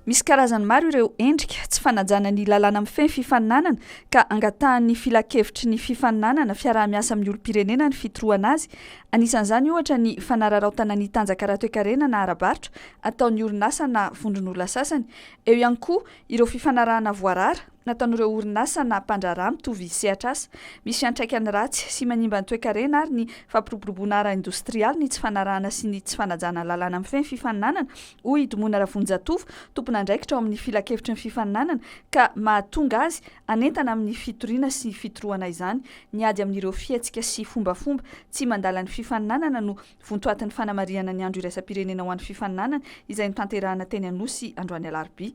Misy karazany maro ireo endrika tsy fanajana ny lalàna mifehy ny fifaninanana ka angatahan'ny filankevitry ny fifaninanana fiaraha-miasa amin'ny olom-pirenena ny fitrohana azy. Anisan'izany ohatra ny fanararaotana ny tanjaka ara-toekarena na ara-barotra ataon'ny orinasa na vondron'olona sasany. Eo ihany koa ireo fifanarahana voarara. nataon'ireo orinasa na mpandraharaha mitovy sehatr'asa. Misy fiantraikany ratsy sy manimba ny toekarena ary ny fampiroboroboana ara-indostrialy ny tsy fanarahana sy ny tsy fanajana lalàna mifehy ny fifaninanana, hoy i Domona Ravonjatovo, tompon'andraikitra ao amin'ny Filankevitry ny fifaninanana, ka mahatonga azy hanentana amin'ny fitoriana sy fitorohana izany. Ny ady amin'ireo fihetsika sy fombafomba tsy mandala ny fifaninanana no Vontoatin'ny fanamarihana ny andro iraisam-pirenena ho an'ny fifaninanana izay notanterahina teny Anosy androany alarobia.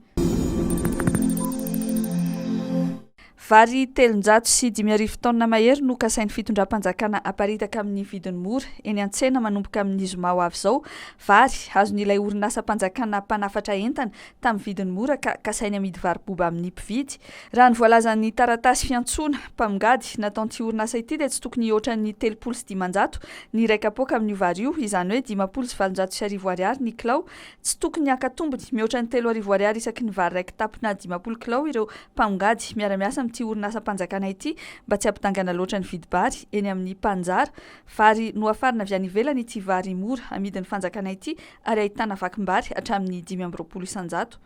Vary telonjato sy dimy arivo taonina mahery no kasain'ny fitondram-panjakana haparitaka amin'ny vidiny mora eny an-tsena manomboka amin'ny zoma ho avy izao. Vary, azon'ilay orinasam-panjakana mpanafatra entana tamin'ny vidiny mora ka kasainy hamidy varo-boba amin'ny mpividy. Raha ny voalazan'ny taratasy fiantsoana mpamongady nataon'ity orinasa ity dia tsy tokony hihoatra ny telopolo sy dimanjato ny iray kapoaka amin'io vary io, izany hoe dimampolo sy valonjato sy arivo ariary ny kilao. Tsy tokony haka tombony mihoatra ny telo arivo ariary isaky ny vary raiki-tapy na dimampolo kilao ireo mpamongady miara-miasa amin'ity orinasam-panjakana ity mba tsy hampidangana loatra ny vidim-bary eny amin'ny mpanjara vary nohafarina avy any ivelany ity vary mora amidin'ny fanjakana ity ary ahitana vakim-bary hatramin'ny dimy amby roapolo isan-jato.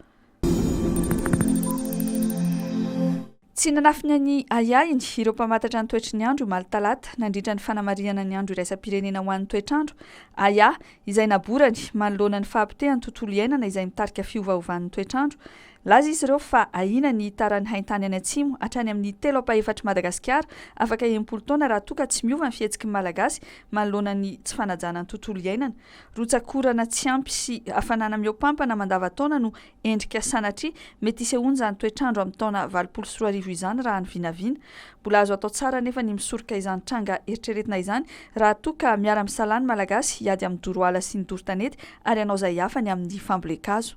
Tsy nanafina ny ahiahiny ireo mpamantatra ny toetry ny andro omaly talata nandritra ny fanamarihana ny andro iraisam-pirenena ho an'ny toetr'andro, aia, izay naborany manoloana ny fahapotehan'ny tontolo iainana izay mitarika fiovaovan'ny toetr'andro. Laza izy ireo fa ahiana ny hitaran'ny haintany any atsimo hatrany amin'ny telo ampahefatr'i Madagasikara afaka enimpolo taona raha toa ka tsy miova ny fihetsiky ny Malagasy manoloana ny tsy fanajana ny tontolo iainana. Rotsak'orana tsy ampy sy hafanana mihoapampana mandavantaona no endrika sanatria mety isehoan'izany toetr'andro amin'ny taona valopolo sy roa arivo izany raha ny vinavina. Mbola azo atao tsara anefa ny misoroka izany tranga eritreretina izany raha toa ka miara-misalahy ny Malagasy hiady amin'ny doro ala sy ny doro tanety ary hanao izay hafany amin'ny fambolen-kazo.